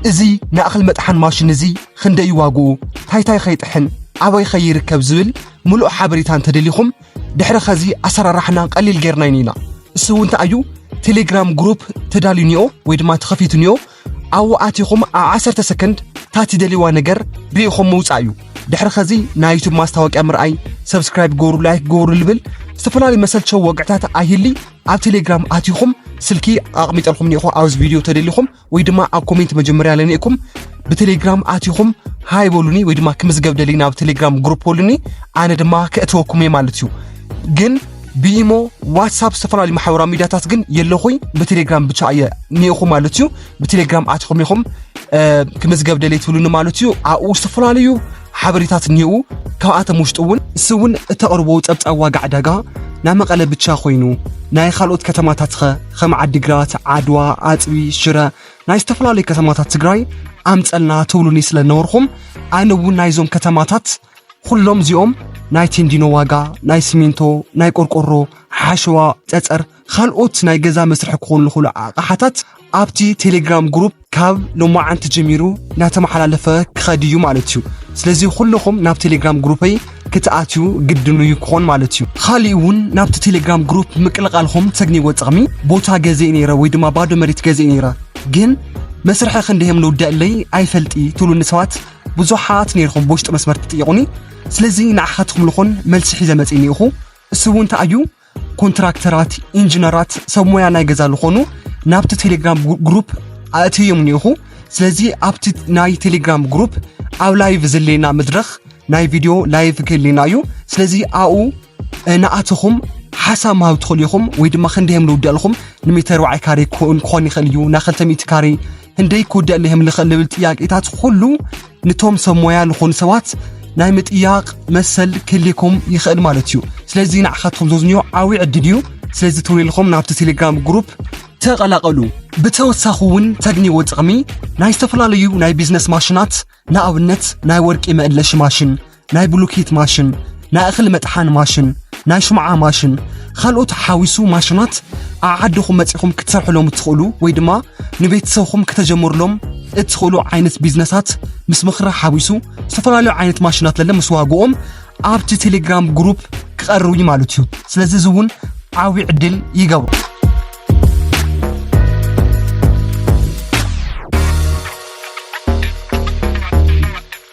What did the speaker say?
እዚ ንኣኽሊ መጥሓን ማሽን እዚ ኽንደይ እዩ ዋግኡ፣ ታይታይ ኸ ይጥሕን፣ ኣበይ ኸ ይርከብ ዝብል ምሉእ ሓበሬታ እንተደሊኹም ድሕሪ ኸዚ ኣሰራርሓና ቐሊል ጌርና ኢና ኢና እሱ እውን እንታይ እዩ ቴሌግራም ግሩፕ ተዳልዩ ኒኦ ወይ ድማ ተኸፊቱ ኒኦ ኣብኡ ኣቲኹም ኣብ ዓሰርተ ሰከንድ እታ ትደልይዋ ነገር ርኢኹም ምውፃእ እዩ ድሕሪ ኸዚ ናይ ዩቱብ ማስታወቂያ ምርኣይ ሰብስክራይብ ገበሩ ላይክ ገበሩ ልብል ዝተፈላለዩ መሰልቸው ወግዕታት ኣይህሊ ኣብ ቴሌግራም ኣቲኹም ስልኪ ኣቕሚጠልኩም ኒኹ ኣብዚ ቪድዮ ተደሊኹም ወይ ድማ ኣብ ኮሜንት መጀመርያ ለኒእኩም ብቴሌግራም ኣቲኹም ሃይ በሉኒ ወይ ድማ ክምዝገብ ደሊ ናብ ቴሌግራም ግሩፕ በሉኒ ኣነ ድማ ከእተወኩም እየ ማለት እዩ ግን ብኢሞ ዋትሳፕ ዝተፈላለዩ ማሕበራዊ ሚዲያታት ግን የለኹኝ ብቴሌግራም ብቻ እየ ኒኢኹ ማለት እዩ ብቴሌግራም ኣቲኹም ኢኹም ክምዝገብ ደሊ ትብሉኒ ማለት እዩ ኣብኡ ዝተፈላለዩ ሓበሬታት እኒኡ ካብኣቶም ውሽጢ እውን ንስ እውን እተቕርቦ ፀብፃብ ዋጋ ዕዳጋ ናይ መቐለ ብቻ ኮይኑ ናይ ካልኦት ከተማታት ኸ ከም ዓዲግራት ዓድዋ ኣፅቢ ሽረ ናይ ዝተፈላለዩ ከተማታት ትግራይ ኣምፀልና ትብሉኒ ስለ ነበርኹም ኣነ እውን ናይዞም ከተማታት ኩሎም እዚኦም ናይ ቴንዲኖ ዋጋ ናይ ሲሚንቶ ናይ ቆርቆሮ ሓሸዋ ፀፀር ኻልኦት ናይ ገዛ መስርሒ ክኾኑ ዝኽእሉ ኣቕሓታት ኣብቲ ቴሌግራም ግሩፕ ካብ ሎማዓንቲ ጀሚሩ እናተመሓላለፈ ክኸድ እዩ ማለት እዩ ስለዚ ኩልኹም ናብ ቴሌግራም ግሩፐይ ክትኣትዩ ግድኑ እዩ ክኾን ማለት እዩ ካሊእ እውን ናብቲ ቴሌግራም ግሩፕ ምቅልቓልኹም ተግኒዎ ጥቕሚ ቦታ ገዜ ነይረ ወይ ድማ ባዶ መሬት ገዜ ነይረ ግን መስርሒ ክንደዮም ልውዳእለይ ኣይፈልጢ ትብሉኒ ሰባት ብዙሓት ነይርኹም ብውሽጢ መስመር ትጥይቑኒ ስለዚ ንዓኻትኩም ልኾን መልሲ ሒዘ መፅእ እኒኢኹ እሱ እውን እንታይ እዩ ኮንትራክተራት ኢንጂነራት ሰብ ሞያ ናይ ገዛ ዝኾኑ ናብቲ ቴሌግራም ግሩፕ ኣእትዮም ኒኹ ስለዚ ኣብቲ ናይ ቴሌግራም ግሩፕ ኣብ ላይቭ ዘሌና መድረኽ ናይ ቪድዮ ላይቭ ክህሌና እዩ ስለዚ ኣኡ ንኣትኹም ሓሳብ ምሃብ ትኽእሉ ኢኹም ወይ ድማ ክንደይ እዮም ልውዳእ ኣለኹም ንሜተር ዋዓይ ካሬ ክኸውን ክኾን ይኽእል እዩ ናብ 200 ካሬ ህንደይ ክውዳእ ለይህም ልኽእል ልብል ጥያቄታት ኩሉ ንቶም ሰብ ሞያ ዝኾኑ ሰባት ናይ ምጥያቕ መሰል ክልኩም ይኽእል ማለት እዩ ስለዚ ንዓኻትኩም ዘዝንዮ ዓብዪ ዕድል እዩ ስለዚ ተውልልኹም ናብቲ ቴሌግራም ግሩፕ ተቐላቐሉ ብተወሳኺ እውን ተግንዎ ጥቕሚ ናይ ዝተፈላለዩ ናይ ቢዝነስ ማሽናት ንኣብነት ናይ ወርቂ መእለሺ ማሽን ናይ ብሉኬት ማሽን፣ ናይ እኽሊ መጥሓኒ ማሽን፣ ናይ ሽምዓ ማሽን፣ ኻልኦት ሓዊሱ ማሽናት ኣብ ዓድኹም መጺኹም ክትሰርሕሎም እትኽእሉ ወይ ድማ ንቤተሰብኹም ከተጀምርሎም እትኽእሉ ዓይነት ቢዝነሳት ምስ ምኽሪ ሓዊሱ ዝተፈላለዩ ዓይነት ማሽናት ለለ ምስ ዋግኦም ኣብቲ ቴሌግራም ግሩፕ ክቐርቡ እዩ ማለት እዩ። ስለዚ እዚ እውን ዓብዪ ዕድል ይገብሮ።